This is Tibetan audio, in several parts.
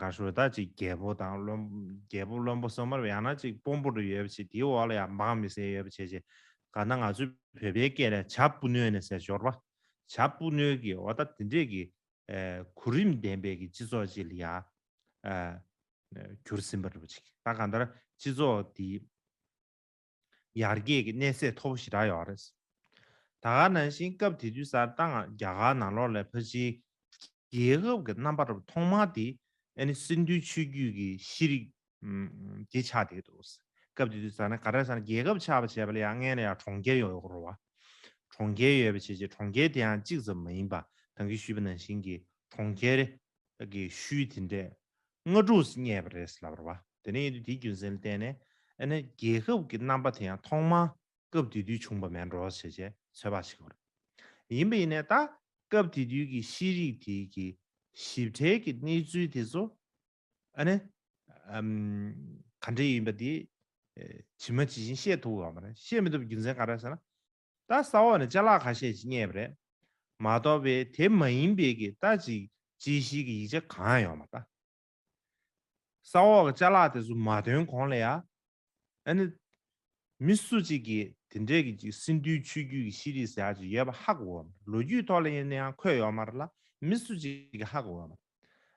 གར་ཞོལ་དག་ཅིག་རྒྱལ་པོ་དང་རྒྱལ་པོ་བློན་པོ་སོ་མར་ཡང་ན་ཅིག་དཔོན་པོ་རུ་ཡོད་པ་ཅིག་དེའི་འོག་ལ་ཡང་འབངས་མི་སེར་ཡོད་པ་བྱས་ཅིག་ག་ན་ང་ཚོའི་བོད་པའི་སྐད་ལས་བྱ་སྤུ་ནོལ་ནས་ཟེར་ཞོར་བྱ་སྤུ་ནོལ་གྱི་འོ་ད་དེ་འདྲས་ཀྱི་གོ་རིམ་ལྡན་པའི་གྱི་སྤྱི་ཚོགས་ཅིག་ལ་ཡང་གྱུར་ཟིན་པ་རེད་བྱས་ཀྱི་ད་ག་ནྡར་སྤྱི་ཚོགས་འདི། ཡར་རྒྱས་ཀྱི་གནས་ཚད་མཐོ་པོ་ཞིག་གྲགས་ཡོད་པ་རེད། ད་ག་ནང་བཞིན་སྐབས་དེ་དུས་སར་ཏང་རྒྱ་གར་ནང་ལོགས་ལས་ཕར་ཕྱིན་རྒྱལ་ཁབ་ཀྱི་རྣམ་པར་ཐོག་མ་དེ་ནི་སེམས་མཐུན་ཆོས་བརྒྱུད་ཀྱི་ཤེས་རིག་དེ་ཆགས་བསྡད་འདུག་སྐབས་དེ་དུས་སར་ན་ག་རེ་ས་ན་རྒྱལ་ཁབ་ཆགས་པ་བྱས་པ་ལ་ཡང་སྔན་ལ་ཡང་གྲོང་ཁྱེར་ཡོང་ཡོད་ཁོ་རུ་བ། གྲོང་ཁྱེར་ཡོད་པའི་ཆེད་ཆེད་གྲོང་ཁྱེར་དེའང་གཅིག་ཙམ་མ་ཡིན་པར་དང་གིས་ཞུས་པ་ནང་བཞིན་གྱི་གྲོང་ཁྱེར། བདག་གིས་ཤུལ་དེ་འདྲས་སྔ་དྲོ་སུ་རྙེད་པ་རེད་ལབ་རོགས་པ། དེ་ནས་ཡིན་དུས་དེའི་རྒྱུ་མཚན་ལ་བལྟས་ནས་ཨ་ནེ་རྒྱལ་ཁབ་ཀྱི་རྣམ་པ་དེ་ཡང་ཐོག་མར་སྐབས་དེ་དུས་བྱུང་པ་མེད་འགྲོ་བྱས་རྗེས་ཚོད་དཔག་བྱེད་དགོས་རེད། ཡིན་པ་ཡིན་ནས་ད་སྐབས་དེ་དུས་ཀྱི་ཤེས་རིག་དེ་གི་ཞིབ་ཕྲའི་གི་གནས་ཚུལ་དེ་ཚོ་ཨ་ནེ་ག་འདྲས་ཡིན་པ་དེ་ཇི་མ་ཇི་བཞིན་ཤེས་ཐུབ་དགོས་པ་རེད། ཤེས་མི་ཐུབ་པའི་རྒྱུ་མཚན་ག་རེད་ཟེར་ན། རྟ་ཟ་འོག་ནས་བཅའ་ལག་ཁ་ཤས་ཀྱིས་བསྙད་པ་རེད་མ་གཏོགས་པའི་དེ་མ་ཡིན་པའི་གི་རྟ་ཅིག་ཅི་ཞིག་གི་ཡིག་ཆ་གང་ཡང་མ་རྟ་ཟ་འོག་གི་བཅའ་ལག་དེ་ཚོ་མ་ཐོན་གོང་ལ་ཡང་ཨ་ནི་མི་སུ་ཅིག་གིས་དེ་འདྲའི་གི་ཅིག་སིན་དུའི་ཆོས་བརྒྱུད་ཀྱི་ཤེས་རིག་ཟེར་ཡག་ཅིག་ཡོད་པ་ཧ་གོ་འོ་མ་རེད་ལོ་རྒྱུས་ཐོག་ལ་ཡིན་ན་ཡང་འཁོད་ཡོད་མ་རེད་ལ་མི་སུ་ཅིག་གིས་ཧ་གོ་འོ་མ་རེད།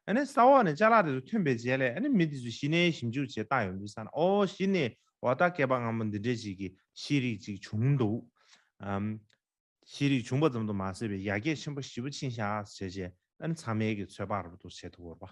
ཨཱ། ས་འོག་ནས་ལྕགས་ལ་དེ་ཚོ་ཐོན་པའི་རྗེས་ལས་ཨཱ་མི་དེ་ཚོས་ཞི་གནས་ཞིབ་འཇུག་བྱེད་སྟངས་ཡོང་དུས་བསམ་ན་ཨོ་ཞི་གནས་འོག་རྟ་སྐད་པ་སྔ་མོ་འདི་འདྲའི་ཅིག་གི་ཤེས་རིག་ཅིག་བྱུང་འདུག་ཨཱ། ཤེས་རིག་བྱུང་པ་ཙམ་དུ་མ་ཟད་པའི་ཡ་གྱལ་ཆེན་པོ་བཞི་པོ་ཕྱིན་ཤག་བྱས་རྗེས་ཨཱ་ཚང་མལ་གྱི་ཚོད་དཔག་རབ་ཏུ་བྱེད་ཐུབ་བོར་བ།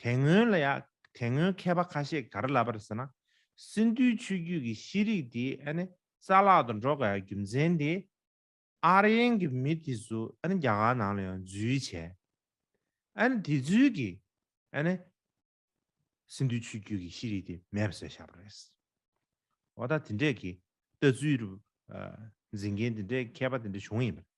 དེ་སྔོན་ལ་ཡང་དེ་སྔོན་མཁས་པ་ཁ་ཤས་གར་ལབ་པར་ཟེར་ན། སིནྡྷུའི་ཆོས་བརྒྱུད་ཀྱི་ཤེས་རིག་དེ་རྩ་བརླག་ཏུ་འགྲོ་དཀའ་བའི་རྒྱུ་མཚན་དེ། Aryan གྱི་མི་དེ་ཚོ་རྒྱ་གར་ནང་ལ་ཡང་འཛུལ་བྱས། དེ་ཚོའི་གིས་སིནྡྷུའི་ཆོས་བརྒྱུད་ཀྱི་ཤེས་རིག་དེ་མེད་པ་བཟོས་བཞག་པ་རེད། འོ་ད་དེ་འདྲས་ཀྱི་ལྟ་ཚུལ་འཛིན་མཁན་དེ་འདྲས་མཁས་པ་དེ་འདྲས་བྱུང་ཡིན་པ་རེད།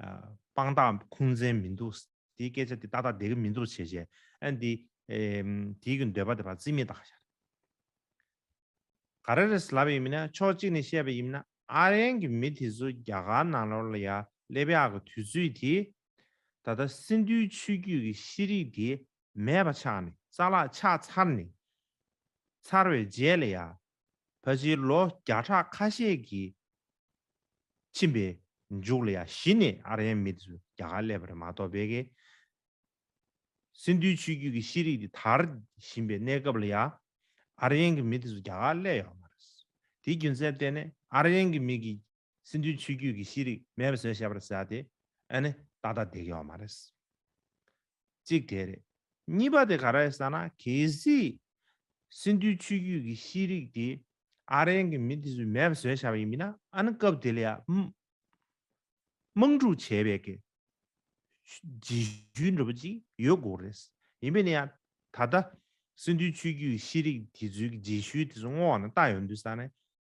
དཔང་རྟགས་ཁུངས་བཙན་མི་འདུག་དེའི་སྐད་ཆ་དེ་ཏག་ཏག་འདེད་གི་མི་འདུག་བྱས་བྱས་ཨ་འདི། དེའི་གི་འདོད་པ་དེ་བ་རྩིས་མེད་དག་ཞར། ག་རེ་རེད་ལབ་ཡིན་མིན་ན་ཕྱོགས་གཅིག་ནས་བཤད་པ་ཡིན་མིན་ན་ཨ་རན་གི་མི་དེ་ཚོ་རྒྱ་གར་ནང་ལོར་ལ་ཡ་ཀླེ་བྷེ་ཨག་གི་དུས་ཚོད་དེ། ད་ལྟ་སིནྡྷུའི་ཆུ་རྒྱུད་ཀྱི་ཤེས་རིག་དེ་མེད་པ་ཆགས་ནས་རྩ་ལག་ཆགས་ཚར་ནས། ཚར་བའི་རྗེས་ལ་ཡ་བོད་ཕྱི་ལོ་བརྒྱ་ཕྲག་ཁ་ཤས་ཀྱི་ཕྱིན་པའི་མཇུག་ལ་ཡ་ཞི་ནས་ཨ་རན་མི་ཚོས་རྒྱ་གར་སླེབས་པར་མ་གཏོགས་བལ་གེ། སིནྡྷུའི་ཆུ་བརྒྱུད་ཀྱི་ཤེས་རིག་དེ་དར་བཞིན་པའི་གནས་སྐབས་ལ་ཡ་ཨ་རན་གྱི་མི་དེ་ཚོ་རྒྱ་གར་སླེབས་ཡོད་མ་རེད། དེའི་རྒྱུ་མཚན་བལྟས་ནས་ཨ་རན་གྱི་མི་གིས་སིནྡྷུའི་ཆུ་བརྒྱུད་ཀྱི་ཤེས་རིག་མེད་པ་བཟོས་ཞེས་པར་ཟེར་ཡ་དེ་ཨ་ནི་ཏག་ཏག་བསྡད་ཀྱི་ཡོད་མ་རེད། གཅིག་དེ་རེད། གཉིས་པ་དེ་ག་རེད་ཟེར་ན་གལ་སྲིད། སིན་དྷུའི་ཆུ་རྒྱུད་ཀྱི་ཤེས་རིག་དེ་ཨ་རན་གྱི་མི་དེ་ཚོས་མེད་པ་བཟོས་བཞག་པ་ཡིན་མིན་ན་ཨ་ནི་སྐབས་དེ་ལ་ཡང་དམག་འཁྲུག་བྱས་པའི་གེ་ཇི་ཞུའི་འབྲུ་བ་ཅིག་ཡོད་དགོས་རེད། ཡིན་པས་ན་ཡང་ད་ལྟ་སིན་དྷུའི་ཆུ་རྒྱུད་ཀྱི་ཤེས་རིག་དེ་ཚོའི་གེ་ཇི་ཞུའི་དེ་ཚོ་བསྔོགས་ན་ལྟ་ཡོང་དུས་ས་ནས་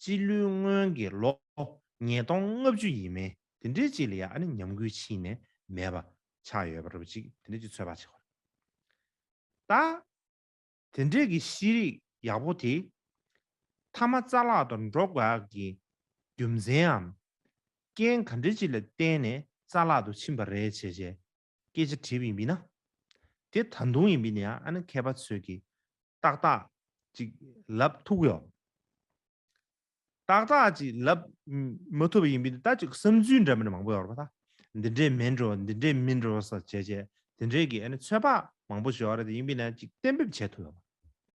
སྤྱི་ལོའི་སྔོན་གྱི་ལོ་ཉིས་སྟོང་ལྔ་བཅུ་ཡིན་མིན་དེ་འདྲའི་ཅིག་ལ་ཡང་ཉམས་རྒུད་ཕྱིན་ནས་མེད་པ་ཆགས་ཡོད་པ་རེད་ཅིག་དེ་འདྲའི་ཅིག་ཚོད་དཔག་བྱེད་དགོས་རེད། ད་དེ་འདྲས་ཀྱི་ཤེས་རིག་ཡག་པོ་དེ་མཐའ་མ་རྩ་ལག་ཏུ་འགྲོ་དགོས་ཀྱི་རྒྱུ་མཚན་འམ་རྐྱེན་ག་འདྲའི་ཅིག་ལ་བརྟེན་ནས་རྩ་ལག་ཏུ་ཕྱིན་པ་རེད་བྱས་བྱས་སྐད་ཆ་དྲིས་པ་ཡིན་མིན་ན། དེ་ད་དུང་ཡིན་མིན་ནི་ཨ་ནི་མཁས་པ་ཚོས་ཀྱིས་ཏག་ཏག་ཅིག་ལབ་ཐུག་གི་ཡོད། ཏག་ཏག་ཅིག་ལབ་མ་ཐུབ་པ་ཡིན་མིན་ནི་ད་ཅིག་བསམ་ཚུལ་འདྲ་མིན་མང་པོ་ཡོད་པ་དང། འདི་འདྲས་མིན་འགྲོ་འདི་འདྲས་མིན་འགྲོ་ཟེར་བྱས་བྱས་དེ་འདྲས་ཀྱིས་ཨ་ནི་ཚོད་དཔག་མང་པོ་བྱས་ཡོད་རེད་དེ་ཡིན་མིན་ན་ཅིག་གཏན་འབེབས་བྱས་ཐུབ་ཡོད།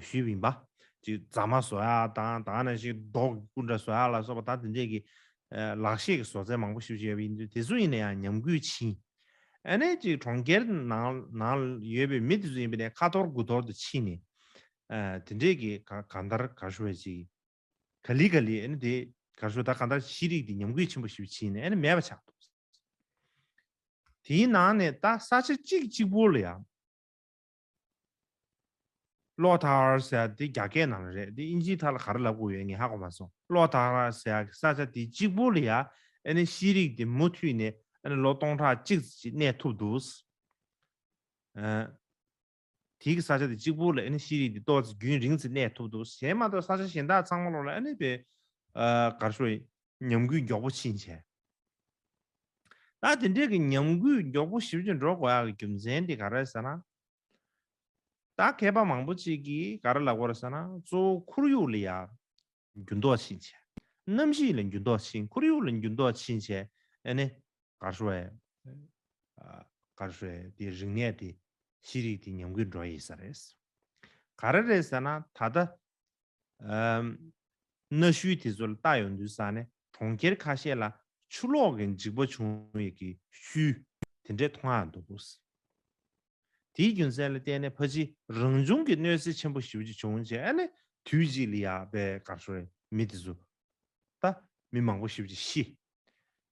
ཞུས་བིན་པ། ཅིག་རྫ་མ་བཟོ་ཡ་དང་དང་ན་ཞིག་རྡོག་སྐུ་འདྲ་བཟོ་ཡ་ལ་སོགས་པ་ད་དེ་འདྲས་ཀྱི། ལག་ཤེས་ཀྱི་བཟོ་རྩལ་མང་པོ་ཞིབ་བཤེར་བྱས་པ་ཡིན་དུས་དེ་ཚོ་ཡིན་ན་ཡང་ཉམས་རྒུད་ཕྱིན། ཨ་ནས་ཅིག་གྲོང་ཁྱེར་ནང་ནང་ཡོད་པའི་མི་དེ་ཚོ་ཡིན་པས་ནས་ཁ་འཐོར་དགུ་འཐོར་དུ་ཕྱིན་ནས། དེ་འདྲས་ཀྱི་ག་ག་འདར་གར་ཞུ་བ་ཅིག། ག་ལི་ག་ལི་ཨ་ནི་དེ་གར་ཞུ་ད་ག་འདར་ཤེས་རིག་དེ་ཉམས་རྒུད་ཆེན་པོ་ཞིབ་ཕྱིན་ནས་ཨ་ནི་མེད་པ་ཆགས་འདུག། དེའི་ནང་ནས་ད་ས་ཆ་གཅིག་གཅིག་པོ་ལ་ཡང། ལོག་ཐག་ར་ཟེར་དེ་རྒྱ་སྐད་ནང་ལ་རེད་དེ་ཨིན་ཇིའི་ཐག་ལ་ག་རེ་ལབ་དགོས་ཡོད་ངས་ཧ་གོ་མ་སོང་ལོག་ཐག་ར་ཟེར་གི་ས་ཆ་དེ་གཅིག་པོ་ལ་ཡ་ཨ་ནི་ཤེས་རིག་དེ་མུ་མཐུད་ནས་ཨ་ནི་ལོ་སྟོང་ཕྲག་གཅིག་ཅིག་གནས་ཐུབ་འདུག་ཨ་དེ་གི་ས་ཆ་དེ་གཅིག་པོ་ལ་ཨ་ནི་ཤེས་རིག་དེ་ཏོག་ཙེ་རྒྱུན་རིང་ཙིག་གནས་ཐུབ་འདུག་གཞན་མ་གཏོགས་ས་ཆ་གཞན་དག་ཚང་མ་ལོག་ལ་ཨ་ནི་པའི་གར་ཤོར་ཡིན། ཉམས་རྒུད་མགྱོགས་པོ་ཕྱིན་ཆད། ད་དེ་འདྲའི་གི་ཉམས་རྒུད་མགྱོགས་པོ་ཞིབ་ཅིང་འགྲོ་དགོས་ཡག་གི་རྒྱུ་མཚན་དེ་ག་རེད་ཟེར་ན། ད་མཁས་པ་མང་པོ་ཅིག་གིས་ག་རེ་ལབ་དགོས་རེད་ཟེར་ན་གཙོ་བོ་ཁོར་ཡུག་ལ་ཡག་འགྱུར་ལྡོག་ཕྱིན་ཆད། གནམ་གཤིས་ལ་འགྱུར་ལྡོག་ཕྱིན་ཁོར་ཡུག་ལ་འགྱུར་ལྡོག་ཕྱིན་ཆད་ཨེ་ནི། གར་ཧྲོའི། གར་ཧྲོའི་དེ་རིག་གནས་དེ་ཤེས་རིག་དེ་ཉམས་རྒུད་འགྲོ་ཡི་ས་རེད། ག་རེ་རེད་ཟེར་ན་ད་ལྟ་གནའ་ཤུལ་དེ་ཚོ་ལ་ལྟ་ཡོང་དུས་ས་གནས་གྲོང་ཁྱེར་ཁ་ཤས་ལ་ཆུ་ལོག་གི་འཇིག་པ་བྱུང་ཡོད་ཀི་ཤུལ་དེ་འདྲས་མཐོང་ཡང་འདུག་གོ། དེའི་རྒྱུ་མཚན་ལ་བལྟས་ནས་ཕ་ཅིའི་རང་བྱུང་གི་གནོད་འཚེ་ཆེན་པོ་ཞིག་བྱུང་བྱས་ནས་དུས་གཅིག་ལ་ཡག་པའི་དགའ་ཤོར་མི་དེ་ཚོ་ད་མི་མང་པོ་ཞིག་ཤི།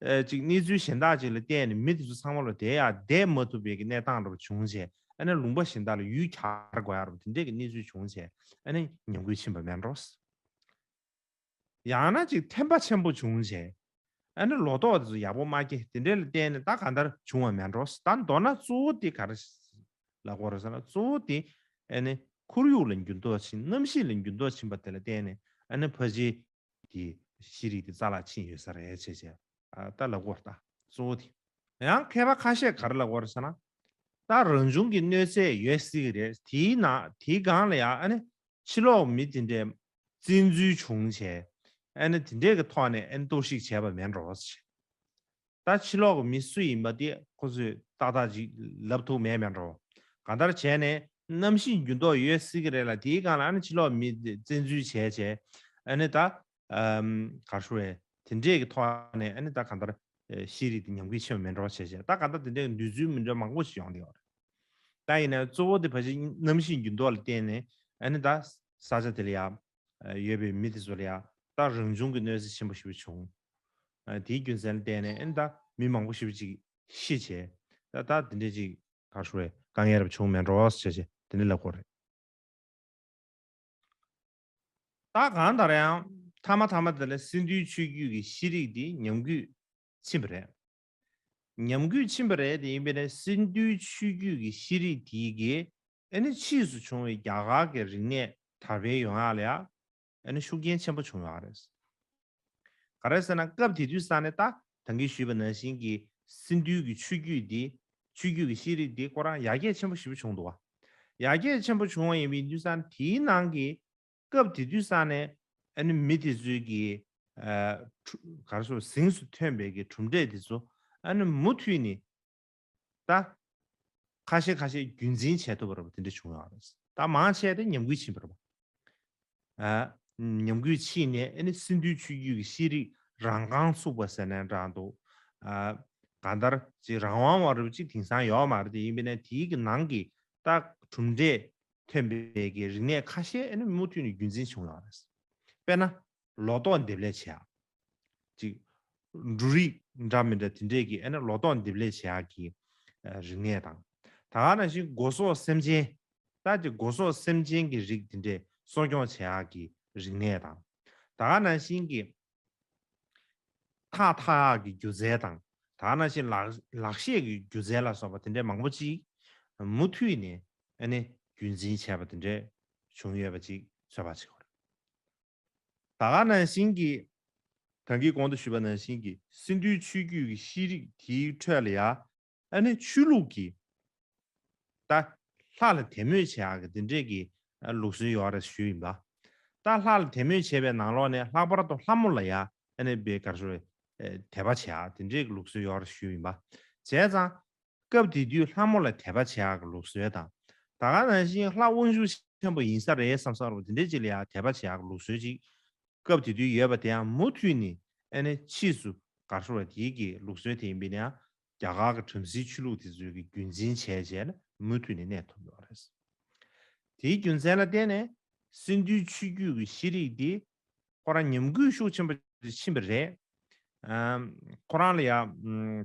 ཅིག་གནས་ཚུལ་གཞན་དག་ཅིག་ལ་བལྟས་ནས་མི་དེ་ཚོ་ཚང་མ་ལ་དེ་ཡང་བསྡད་མ་ཐུབ་པའི་གི་གནས་སྟངས་འདྲ་པོ་བྱུང་ཚེ་ཨ་ནེ་ལུང་པ་གཞན་དག་ལ་ཡུལ་གྱར་དགོས་ཡག་རོ་དེ་འདྲའི་གི་གནས་ཚུལ་བྱུང་ཚེ་ཨ་ནེ་ཉམས་རྒུད་ཕྱིན་པ་མེད་རོ། ཡང་ན་ཅིག་ཐན་པ་ཆེན་པོ་བྱུང་ཚེ་ཨ་ནེ་ལོ་ཏོག་དེ་ཚོ་ཡག་པོ་མ་སྐྱེ་དེ་འདྲའི་ལ་བལྟས་ནས་ད་ག་འདར་བྱུང་བ་མེད་རོ་ད་མདོར་ན་གཙོ་བོ་དེ་ག་ར་ལ་གོ་རོ་ཟེར་ན་གཙོ་བོ་དེ་ཨ་ནེ་ཁོར་ཡུག་ལ་འགྱུར་ལྡོག་ཕྱིན་གནམ་གཤིས་ལ་འགྱུར་ལྡོག་ཕྱིན་པ་དེ་ལ་བལྟས་ནས་ཨ་ནེ་ཕ་གཞིས། དེ། ཤེས་རིག་དེ་རྩ་ལག་ཕྱིན་ཡོད་ས་རེད་བྱས་བྱས། ལྟ་ལ་གོ། ལྟ་གཙོ་བོ་དེ། ཡང་མཁས་པ་ཁ་ཤས་གར་ལ་གོ་རེད་ས་ན། ལྟ་རང་བྱུང་གི་གནོད་འཚེ་ཡོད་སྲིད་གི་རེད་དེའི་ནང་དེའི་སྒང་ལ་ཡང་ཨ་ནི། ཕྱི་ལོག་མི་དེ་འདྲས། བཙན་འཛུལ་བྱུང་བྱས། ཨ་ནི་དེ་འདྲས་ཀྱི་ཐོག་ནས་ཨ་ནི་གཏོར་བཤིག་བྱས་པ་མེད་འགྲོ། ད་ཕྱི་ལོག་གི་མི་སུ་ཡིན་པ་དེ་ཁོ་ཚོས་ཏག་ཏག་ཅིག་ལབ་ཐུབ་མེད་པའི་འགྲོ། གང་ལྟར་བྱས་ནས་གནམ་གཤིས་འགྱུར་ལྡོག་ཡོད་སྲིད་ཀྱི་རེད་ལ་དེའི་སྒང་ལ་ཨ་ནི་ཕྱི་ལོག་མི་བཙན་འཛུལ་བྱས་བྱས་ཨ་ནི་ད། གར་ཤོར་བས་དེ་འདྲས་ཀྱི་ཐོག་ནས་ཨ་ནི་ད་གང་ལྟར་ཤེས་རིག་དེ་ཉམས་རྒུད་ཆེན་པོ་མེད་འགྲོ་བྱས་བྱས་ད་གང་ལྟར་དེ་འདྲས་ཀྱི་འདོད་ཚུལ་མི་འདྲ་མང་པོ་ཞིག་ཡོང་བསྡད་ཡོད་རེད། ད་ཡིན་ན་གཙོ་བོ་དེ་ཕ་ཕྱི་གནམ་གཤིས་འགྱུར་ལྡོག་ལ་བརྟེན་ནས་ཨ་ནི་ད་ས་ཆ་དེ་ལ་ཡ། ཡོད་པའི་མི་དེ་ཚོ་ལ་ཡང་ད་རང་བྱུང་གི་གནོད་འཚེ་ཆེན་པོ་ཞིག་བྱུང། དེའི་རྒྱུ་མཚན་ལ་བརྟེན་ནས་ད་མི་མང་པོ་ཞིག་ཅིག་ཤི་བྱས། ད་ད་དེ་འདྲའི་ཅིག། ཐར་ཤོར་བའི་དཀའ་ངལ་རབ་བྱུང་མེད་འགྲོ་ཞེས་བྱས་དེ་འདྲའི་ལབ་སྐོར་རེད། ད་གང་ལྟར་ཡང་མཐའ་མ་མཐའ་མ་དེ་ལ་སིན་དྷུའི་ཆོས་བརྒྱུད་ཀྱི་ཤེས་རིག་དེ་ཉམས་རྒུད་ཕྱིན་པ་རེད། ཉམས་རྒུད་ཕྱིན་པ་རེད་དེ་ཡིན་པས་ན་སིན་དྷུའི་ཆོས་བརྒྱུད་ཀྱི་ཤེས་རིག་དེའི་དགེ་ཨ་ནི་ཕྱིས་སུ་བྱུང་བའི་རྒྱ་གར་གྱི་རིག་གནས་དར་འཕེལ་ཡོང་ཡག་ལ་ཨ་ནི་ཤུགས་རྐྱེན་ཆེན་པོ་བྱུང་ཡོད་རེད། ག་རེད་ཟེར་ན་སྐབས་དེ་དུས་ས་ནི་ཏཱ་ཐང་གིས་ཞུས་པ་ནང་བཞིན་གྱི་སིན་དྷུའི་གྱི་ཆོས་བརྒྱུད་དེ་ཆོས་བརྒྱུད་གྱི་ཤེས་རིག་དེ་སྐོར་རང་ཡར་རྒྱས་ཆེན་པོ་ཞིབ་བྱུང་འདུག་ཡར་རྒྱས་ཆེན་པོ་བྱུང་བ་ཡིན་པའི་དུས་ས་ནི་དེའི་ནང་གི་སྐབས་དེ་དུས་ས་ནི་ཨ་ནི་མི་དེ་ཚོའི་གྱི་ག་རེ་ཟུར་ཟིང་སུ་ཐོན་པའི་གྱི་གྲུབ་འབྲས་དེ་ཚོ་ཨ་ནི་མུ་མཐུད་ནས་ད། ཁ་ཤས་ཁ་ཤས་རྒྱུན་འཛིན་བྱས་ཐུབ་པ་རེད་པ་དེ་འདྲ་བྱུང་ཡོད་རེད། ད་མང་ཆེ་དེ་ཉམས་རྒུད་ཕྱིན་པ་རེད་པ། ཉམས་རྒུད་ཕྱིན་ནས་ཨ་ནི་སིན་དུའི་ཆུ་རྒྱུད་ཀྱི་ཤེས་རིག་རང་རྐང་བཙུགས་པ་ཟེར་ནས་འདྲ་འདུག། ག་འདར་ཅིག་རང་དབང་བ་རེད་པ་ཅིག་དེང་སང་ཡོད་མ་རེད་དེ་ཡིན་པས་ན་དེའི་གི་ནང་གི་ད་གྲུབ་འབྲས་ཐོན་པའི་གི་རིག་གནས་ཁ་ཤས་ཨ་ནི་མུ་མཐུད་ནས་རྒྱུན་འཛིན་བྱུང་ཡོད་རེད། དཔེར་ན། ལོ་ཏོག་འདེབས་ལས་བྱས་ཨ། གཅིག། འབྲུ་རིགས་འདྲ་མི་འདྲ་དེ་འདྲས་ཀྱི་ཨེ་ན་ལོ་ཏོག་འདེབས་ལས་བྱེད་ཀྱི་རིག་གནས་དང། ད་ནང་བཞིན་སྒོ་ཟོག་སེམས་ཅན། ད་ཀྱི་སྒོ་ཟོག་སེམས་ཅན་གྱི་རིགས་དེ་འདྲས་གསོ་སྐྱོང་བྱེད་ཀྱི་རིག་གནས་དང། ད་ནང་བཞིན་གྱི་ཐག་ཐག་གི་སྒྱུ་རྩལ་དང། ད་ནང་བཞིན་ལག་ཤེས་ཀྱི་སྒྱུ་རྩལ་ལ་སོགས་པ་དེ་འདྲས་མང་པོ་ཅིག་མུ་མཐུད་ནས་ཨེ་ནས་རྒྱུན་འཛིན་བྱས་པ་དེ་འདྲས་བྱུང་ཡོད་པ་ཅིག་བཟོད་པ་བྱེད་དགོས། ད་ག་ནང་བཞིན་གྱི། གང་གིས་གོང་དུ་ཞུས་པ་ནང་བཞིན་གྱི་སིན་དྷུའི་ཆུའི་རྒྱུད་ཀྱི་ཤེས་རིག་དེའི་ཁྲོད་ལ་ཡ། ཨ་ནི་ཆོས་ལུགས་ཀྱི། ད། ལྷ་ལ་དད་མོས་བྱེད་ཨ་གི་འདི་འདྲས་ཀྱི་ལུགས་སྲོལ་ཡོད་རེད་ཞུས་ཡིན་པ། ད་ལྷ་ལ་དད་མོས་བྱེད་པའི་ནང་ལོགས་ནས་ལྷག་པར་དུ་ལྷ་མོ་ལ་ཡ། ཨ་ནི་བེ་གར་ཞོ། དད་པ་བྱེད་ཨ་དེ་འདྲས་ཀྱི་ལུགས་སྲོལ་ཡོད་རེད་ཞུས་ཡིན་པ། བྱས་ཙང། སྐབས་དེ་དུས་ལྷ་མོ་ལ་དད་པ་བྱེད་ཨག་ལུག་སྲོལ་དང། ད་ག་ནང་བཞིན་ལྷ་དབང་ཤུགས་ཆེན་པོ་ཡིན་ས་རེད་བསམ་ས་རུང་དེ་འདྲའི་ཅིག་ལ་ཡང་དད་པ་བྱེད་ཨག་ལུག་སྲོལ་ཅིག་སྐབས་དེ་དུས་ཡོད་པ་དེའང་མུ་མཐུད་ནས་ཨེ་ནས་ཕྱིས་སུ་གར་སོང་བ་དེའི་དགེ་ལུགས་སྲོལ་དེ་ཡིན་པས་ན་རྒྱ་གར་གྱི་བྲམ་ཟེའི་ཆོས་ལུགས་དེ་ཚོའི་གི་རྒྱུན་འཛིན་བྱས་བྱས་ལ་མུ་མཐུད་ནས་གནས་ཐུབ་ཡོད་པ་རེད། དེའི་རྒྱུ་མཚན་ལ་བརྟེན་ནས་སིནྡྷུའི་ཆོས་བརྒྱུད་ཀྱི་ཤེས་རིག་དེ་ཁོ་རང་ཉམས་རྒུད་ཤུགས་ཆེན་པོ་ཕྱིན་པ་རེད། ཁོ་རང་ལ་ཡང།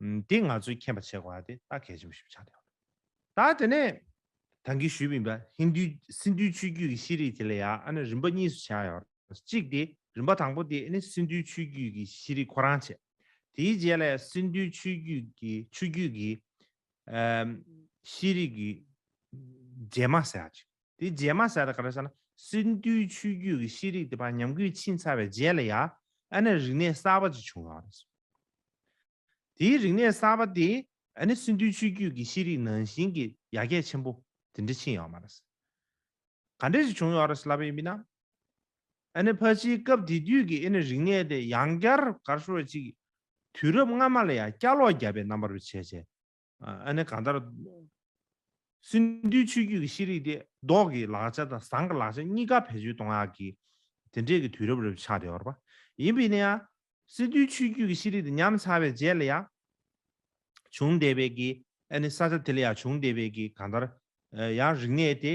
འདི་ང་ཚོའི་མཁྱེན་པ་ཆེ་གོ་ཨ་དེ་ད་གལ་ཆེན་པོ་ཞིག་ཆགས་བསྡད་ཡོད། ད་དེ་ནས། དང་གིས་ཞུས་མིན་པ་ཧིན་དུའི་སིན་དུའི་ཆུའི་རྒྱུད་ཀྱི་ཤེས་རིག་དེ་ལ་ཡ་ཨ་ནི་རིམ་པ་གཉིས་སུ་ཆགས་ཡོད། གཅིག་དེ་རིམ་པ་དང་པོ་དེ་ཨ་ནི་སིན་དུའི་ཆུའི་རྒྱུད་ཀྱི་ཤེས་རིག་ཁོ་རང་བྱས། དེའི་རྗེས་ལ་ཡ་སིན་དུའི་ཆུའི་རྒྱུད་ཀྱི་ཆུ་རྒྱུད་ཀྱི། ཤེས་རིག་གི། རྗེས་མ་ཟེར་ཡག་ཅིག། དེ་རྗེས་མ་ཟད་ག་རེ་ཟེར་ན་སིན་དུའི་ཆུ་རྒྱུད་ཀྱི་ཤེས་རིག་དེ་བར་ཉམས་རྒུད་ཕྱིན་ཚར་བའི་རྗེས་ལ་ཡ་ཨན་ནའི་རིག་གནས་གསར་པ་ཅིག་བྱུང་བ་རེད། དེའི་རིག་གནས་གསར་པ་དེས་ཨན་ནའི་སིན་དུའི་ཆུ་རྒྱུད་ཀྱི་ཤེས་རིག་ནང་བཞིན་གྱི་ཡ་གྱལ་ཆེན་པོ་དེ་འདྲ་ཕྱིན་ཡོད་མ་རེད། ག་འདྲ་ཞིག་བྱུང་ཡོད་རེད་ལབ་ཡོད་མིན་ན། ཨན་ནའི་ཕ་ཕྱིའི་སྐབས་དེ་དུས་ཀྱི་ཨན་ནའི་རིག་གནས་དེ་ཡང་བསྐྱར་གར་ཤོར་བ་ཅིག་གིས་དུས་རབས་སྔ་མ་ལ་ཡང་བསྐྱར་ལོག་བརྒྱབ་པའི་རྣམ་པ་རུ་བྱས་བྱས། ཨ་ནི་གང་ལྟར། སིནྡྷུའི་ཆོས་བརྒྱུད་ཀྱི་ཤེས་རིག་དེ་ཟློག་གི་ལག་ཆ་དང་ཟངས་ཀྱི་ལག་ཆ་གཉིས་ཀ་བེད་སྤྱོད་གཏོང་ཡག་གི། དེ་འདྲས་ཀྱི་དུས་རབས་རབ་ཆགས་བདེ་བར་པ། ཡིན་པས་ནི། སིནྡྷུའི་ཆོས་བརྒྱུད་ཀྱི་ཤེས་རིག་དེ་ཉམས་ཚར་བའི་རྗེས་ལ་ཡང། བྱུང་བདེ་བས་ཀྱི། ཨ་ནི་ས་ཆ་དེ་ལ་ཡང་བྱུང་བདེ་བས་ཀྱི་གང་ལྟར། ཡང་རིག་གནས་དེ།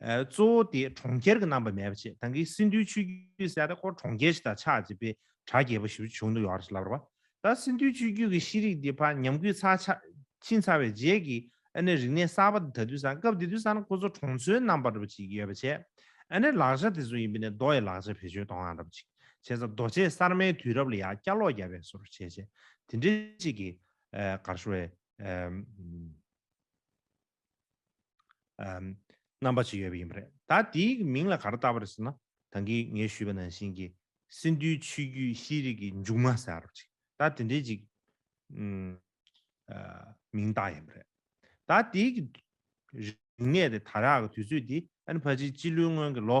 གཙོ་བོ་དེ་གྲོང་ཁྱེར་གྱི་རྣམ་པ་མེད་པ་བྱས་དང་གིས་སིན་དུའི་ཆུས་རྒྱུད་བསལ་ཏེ་ཁོར་གྲོང་ཁྱེར་ཞིག་དང་ཆགས་ཅེས་པའི་གྲགས་རྒྱས་པ་ཞིག་བྱུང་འདུག་ཡོང་ར་ཞིག་ལབ་ར་བ། ད་སིན་དུའི་ཆུས་རྒྱུད་ཀྱི་ཤེས་རིག་དེ་ཕ་ཉམས་རྒུད་ཚ་ཆགས་ཕྱིན་ཚར་བའི་རྗེས་ཀྱི་ཨ་ནེ་རིག་གནས་གསར་པ་དེ་ད་དུས་སང་སྐབས་དེ་དུས་སང་ཁོ་ཚོ་གྲོང་ཚོའི་རྣམ་པར་ར་བ་ཅིག་ཡོད་པ་བྱས། ཨ་ནེ་ལག་ཆ་དེ་ཚོ་ཡིན་པ་ནི་རྡོ་ཡི་ལག་ཆ་བེད་སྤྱོད་དོའང་ར་བ་ཅིག་བྱས་ཚ་རྡོ་ཆས་གསར་མའི་དུས་རབས་ལ་ཡང་བསྐྱར་ལོག་རྒྱབ་པའི་སོར་བྱས་བྱས་དེ་འདྲའི་ཅིག་གིས་གར་ཤོར་བའི། རྣམ་པ་ཅིག་ཡོད་པ་ཡིན་པ་རེད། ད་དེའི་མིང་ལ་ག་རེ་བཏགས་པ་རེད་ཟེར་ན་ད་གིས་ངས་ཞུས་པ་ནང་བཞིན་གྱི་སིནྡྷུའི་ཆོས་བརྒྱུད་ཤེས་རིག་གི་མཇུག་མ་ཟེར་བ་ཅིག་ད་དེ་འདྲའི་ཅིག་མིང་བཏགས་ཡིན་པ་རེད། ད་དེའི་རིག་གནས་དེ་དར་ཡག་གི་དུས་ཚོད་དེ་ཨན་བྷ་ཇིའི་སྤྱི་ལོའི་སྔོན་གྱི་ལོ་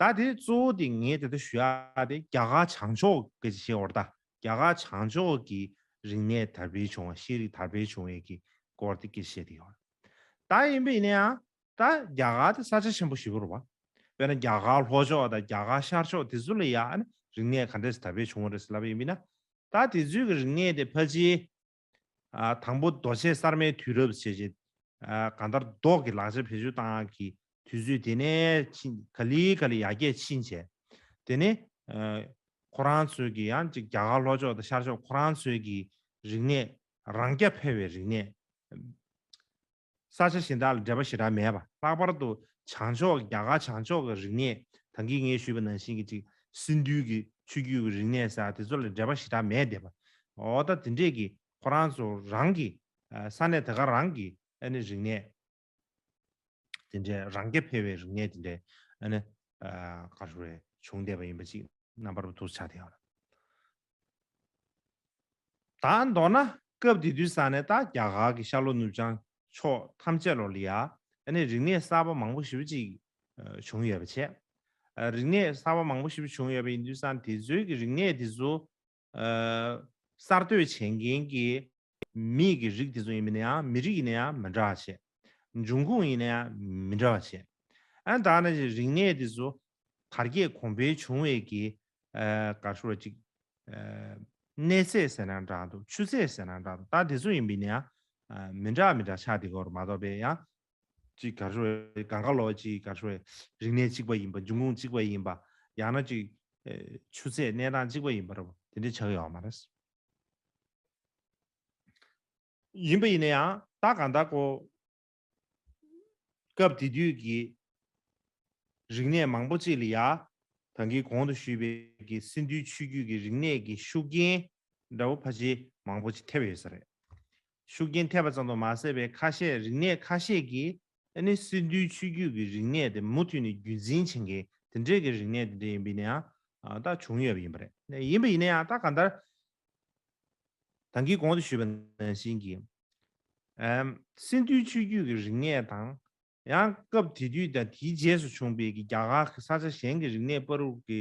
ད་དེ་གཙོ་བོ་དེ་ངས་དེ་ལྟར་ཞུ་ཡག་དེ་རྒྱ་གར་བྱང་ཕྱོགས་ཀྱི་ཤེས་བར་ད་རྒྱ་གར་བྱང་ཕྱོགས་ཀྱི་རིག་གནས་དར་འཕེལ་བྱུང་བ་ཤེས་རིག་དར་འཕེལ་བྱུང་བའི་ཀྱི་སྐོར་དེ་ཀྱི་བཤད་དེ་ཡོད། ད་ཡིན་པས་ནའང་ད་རྒྱ་གར་དེ་ས་ཆ་ཆེན་པོ་བཞི་པོར་བ། དཔེར་ན་རྒྱ་གར་ལྷོ་ཕྱོགས་དང་རྒྱ་གར་ཤར་ཕྱོགས་དེ་ཚོ་ལ་ཡང་རིག་གནས་ག་འདྲས་དར་འཕེལ་བྱུང་བ་རེད་ཟེར་ལབ་པ་ཡིན་པས་ན་ད་དེ་ཚོའི་ཀྱི་རིག་གནས་དེ་ཕལ་ཆེར་དང་པོ་རྡོ་ཆས་གསར་མའི་དུས་རབས་ཞེས་བཞེད། གང་ལྟར་རྡོག་གི་ལག་ཆ་བེད་སྤྱོད་སྟངས་ཀྱི་དུས་ཚོད་དེ་ནས་ཕྱིན་ག་ལི་ག་ལི་ཡར་རྒྱས་ཕྱིན་བྱས། དེ་ནི། ཁོ་རང་ཚོས་ཀྱི་ཡང་ཅིག་རྒྱ་གར་ལྷོ་ཕྱོགས་དང་ཤར་ཕྱོགས་ཁོ་རང་ཚོའི་ཀྱི་རིག་གནས་རང་རྐྱ་འཕེར་བའི་རིག་གནས། ས་ཆ་གཞན་དག་ལ་འགྲེལ་པ་ཞེ་དྲག་མེད་པ། ལྷག་པར་དུ་བྱང་ཕྱོགས་ཀྱི་རྒྱ་གར་བྱང་ཕྱོགས་ཀྱི་རིག་གནས་དང་གིས་ངས་ཞུས་པ་ནང་བཞིན་གྱི་ཅིག་སིནྡྷུའི་གི་ཆོས་བརྒྱུད་ཀྱི་རིག་གནས་ས་དེ་ཚོ་ལ་འགྲེལ་པ་ཞེ་དྲག་མེད་བསྡད་པ། འོ་ད་དེ་འདྲས་ཀྱི་ཁོ་རང་ཚོ་རང་གི་ས་གནས་དེ་ག་རང་གི་ཨ་ནི་རིག་གནས་དེ་འདྲས་རང་རྐྱ་འཕེར་བའི་རིག་གནས་དེ་འདྲས་ཨ་ནི་ག་རེ་བྱུང་བསྡད་པ་ཡིན་པ་ཅིག་རྣམ་པར་བསྡུ་བྱ་དེ་ཡོད། དང་མདོར་ན་སྐབས་དེ་དུས་ས་གནས་དང་རྒྱ་གར་གྱི་ཤར་ལྷོ་ནུབ་བྱང་ཕྱོགས་ཐམས་ཅད་ལོར་ལི་ཡཱ་ནས་རིག་གནས་གསར་པ་མང་པོ་ཞིབ་ཅིག་བྱུང་ཡོད་པ་བྱས། རིག་གནས་གསར་པ་མང་པོ་ཞིབ་བྱུང་ཡོད་པ་ཡིན་དུས་སང་དེ་ཚོའི་གི་རིག་གནས་དེ་ཚོ་གསར་གཏོད་བྱེད་མཁན་གྱི་མིག་གི་རིགས་དེ་ཚོ་ཡིན་པས་ན་ཡང་མི་རིགས་ཡིན་ན་ཡང་མི་འདྲ་བ་བྱེད། འབྱུང་ཁུངས་ཡིན་ན་ཡང་མི་འདྲ་བ་བྱེད། ཨན་ད་ནི་རིག་གནས་དེ་ཚོ་དར་རྒྱས་གོང་འཕེལ་བྱུང་བའི་གི་ག་ཧྲུལ་བ་ཅིག་གནས་ཚད་ཟེར་ན་འདྲ་འདུག་ཆུ་ཚད་ཟེར་ན་འདྲ་འདུག་ད་དེ་ཚོ་ཡིན་པས་ན་ཡང་མི་འདྲ་མི་འདྲ་ཆགས་འདི་གོ་རུ་མ་གཏོགས་པས་ཡང། ཅིག་ག་ཧྲུལ་བའི་གངས་དཀར་ལོ་ཅིག་ག་ཧྲུལ་བའི་རིག་གནས་གཅིག་པ་ཡིན་པ་འབྱུང་ཁུངས་གཅིག་པ་ཡིན་པ་ཡང་ན་ཅིག་ཆུ་ཚད་གནས་སྟངས་གཅིག་པ་ཡིན་པ་རུ་དེ་འདྲས་ཆགས་ཡོད་མ་རེད། ཡིན་པ་ཡིན་ན་ཡང་ད་གང་དག་གོ། སྐབས་དེ་དུས་ཀྱི་རིག་གནས་མང་པོ་ཅིག་ལ་ཡ་དང་གིས་གོང་དུ་ཞུས་པའི་གི་སིན་དུའི་ཆོས་བརྒྱུད་ཀྱི་རིག་གནས་ཀྱི་ཤུགས་རྐྱེན་འདྲ་བོ་ཕ་ཆེ་མང་པོ་ཅིག་ཐེབས་ཡོད་ས་རེད། ཤུགས་རྐྱེན་ཐེབས་པ་ཙམ་དུ་མ་ཟད་པའི་ཁ་ཤས་རིག་གནས་ཁ་ཤས་ཀྱིས་ཨ་ནི་སི་འདུལ་ཆོས་བརྒྱུད་ཀྱི་རིག་གནས་དེ་མུ་མཐུད་ནས་རྒྱུད་འཛིན་བྱེད་མཁན་དེ་འདྲས་ཀྱི་རིག་གནས་དེ་འདྲས་ཡིན་པས་ན་ཡང་དག་བྱུང་ཡོད་པ་ཡིན་པ་རེད། ཡིན་པ་ཡིན་ན་ཡང་དག་གང་ལྟར། དང་གིས་གོང་དུ་ཞུས་པ་ནང་བཞིན་གྱི། ཨ་སི་འདུལ་ཆོས་བརྒྱུད་ཀྱི་རིག་གནས་དང། ཡང་སྐབས་དེ་དུས་དང་དེའི་རྗེས་སུ་བྱུང་བའི་གི་རྒྱ་གར་གྱི་ས་ཆ་གཞན་གྱི་རིག་གནས་སྤར་རུག་གི་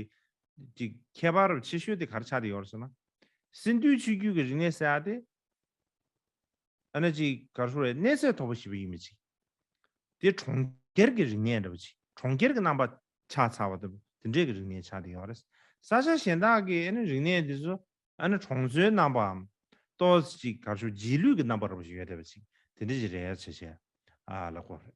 གི་ཁྱད་པར་ཆེ་ཤོས་དེ་གར་ཆགས་དེ་ཡོད་རེད་ཟེར་ན། སི་འདུལ་ཆོས་བརྒྱུད་ཀྱི་རིག་གནས་ཟེར་བ་དེ། ཨ་ན་ཅིག་གར་སོང་བའི་གནས་ཚད་དོག་པོ་ཞིག་བེད་ཡིན་མི་ཅིག། དེ་གྲོང་ཁྱེར་གྱི་རིག་གནས་འདྲ་བོ་ཅིག་གྲོང་ཁྱེར་གྱི་རྣམ་པ་ཆགས་ཚར་བ་ལྟ་བུ་དེ་འདྲས་ཀྱི་རིག་གནས་ཆགས་དེ་ཡོང་བ་རེད། ས་ཆ་གཞན་དག་གི་ཨ་ན་རིག་གནས་དེ་ཚོ་ཨ་ན་གྲོང་ཚོའི་རྣམ་པའམ། སྟོད་ཅིག་གར་སོང་རྗེས་ལུས་ཀྱི་རྣམ་པ་ར་བ་ཞིག་ཡོད་བསྡད་པ་ཅིག་དེ་འདྲས་ཀྱི་རེ་བ་བྱེད་བྱེད་ཨ་ལ་དགོས་རེད།